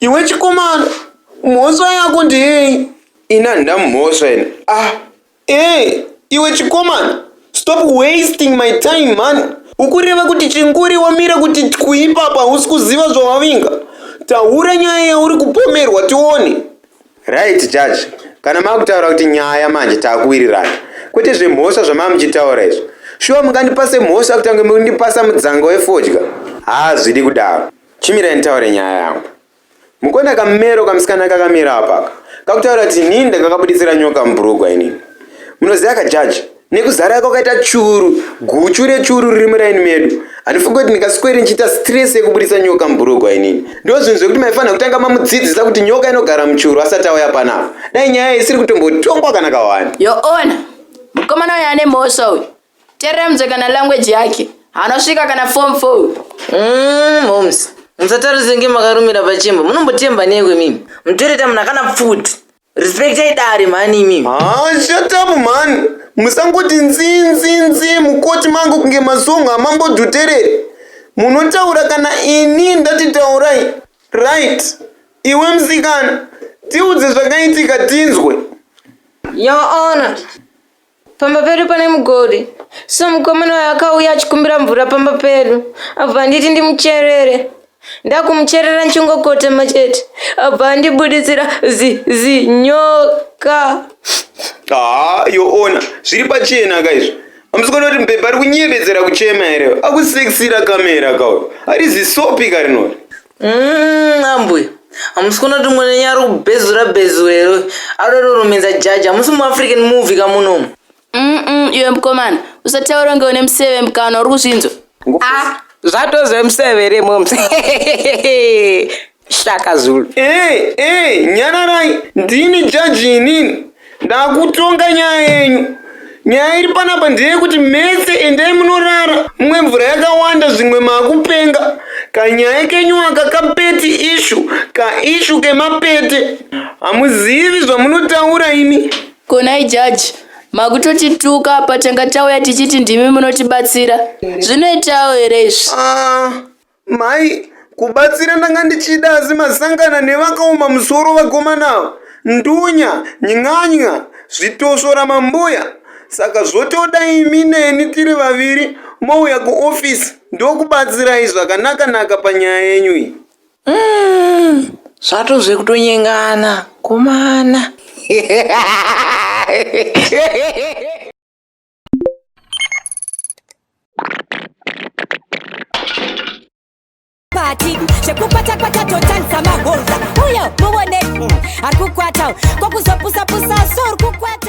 Iwe chikomana, mhosva yako ndeyei? Ini handina mhosva ini. Ah, eh, iwe chikomana, stop wasting my time mhani. Ukureva kuti chinguri wamira kuti twi ipapa hausi kuziva zvawavinga? Taura nyaya yauri kupomerwa tione. Right judge, kana makutaura kuti nyaya manje takuwirirana. Kwete zvemhosva zvamamuchitaura izvo. Shuwa mungandipase mhosva kutange mundipasa mudzanga wefodya? Hazvidi kudaro. Chimirai nditaure nyaya yangu. Mukuona kamero kamusikana kakamira apaka kakutaura kuti inini ndakakabuditsira nyoka mubhurugwa inini. Munoziva ka judge nekuzara kwakaita churu guchu rechuru riri muraini medu handifunge kuti ndingasweri ndichiita stress yekubuditsa nyoka mubhurugwa inini. Ndoo zvinhu zvekuti maifanira kutanga mamudzidzisa kuti nyoka inogara muchuru asati auya panapa. Dai nyaya isiri kutombotongwa kana kawani. Your honor, mukomana uyu ane mhosva uyu. Teremzo kana language yake anosvika kana form 4 Mm, moms musatarise nge makarumira pachimba munombotemba newe mimi mutoreta munhu akana pfuti respectai dare mhani imimi haa shatapu mhani musangoti nzinzinzi mukoti mangu kunge masongo amambodhuterere munotaura kana ini ndati taurai right iwe musikana tiudze zvakaitika tinzwe your honor Pamba pedu pane mugodi so mukomana uyu akauya achikumbira mvura pamba pedu abva anditi ndimucherere ndakumucherera ndichingokotema chete abva andibuditsira zi zinyoka haa yoona zviri pachena ka izvo amusikana kuti mubhebha ari kunyebedzera kuchema here akusekisira kamera kauyo ari zisopi ka rinori Mm, ambuya hamusi kunoti mune nyari kubhezura bhezura here uyu adodorumenza jaji hamusi muafrican movie kamunomu Mm-mm, iwe mkomana usataura kunge une museve mkana uri kuzvinzwa Ah, zvatoze museve here moms shaka zulu Ee, ee, nyararai, ndini jaji inini. Ndakutonga nyaya yenyu. Nyaya iri panapa ndeyekuti mese endai munorara mumwe mvura yakawanda zvimwe makupenga. Kanyaya kenyu aka kapeti ishu kaishu kemapete. Hamuzivi zvamunotaura imi. Konai jaji, makutotituka apa tanga tauya tichiti ndimi munotibatsira. Zvinoitawo here izvi? Ah, Mai, kubatsira ndanga ndichida asi masangana nevakaoma musoro vakomana ava. Ndunya, ny'anya, zvitosvora mambuya. Saka zvotoda imi neni tiri vaviri mouya kuofisi ndokubatsirai zvakanaka-naka panyaya yenyu iyi. zvatozve kutonyengana komana pati zvekukwata kwata totanisa magonza uyo muone ari kukwata kwakuzopusapusa so uri kukwata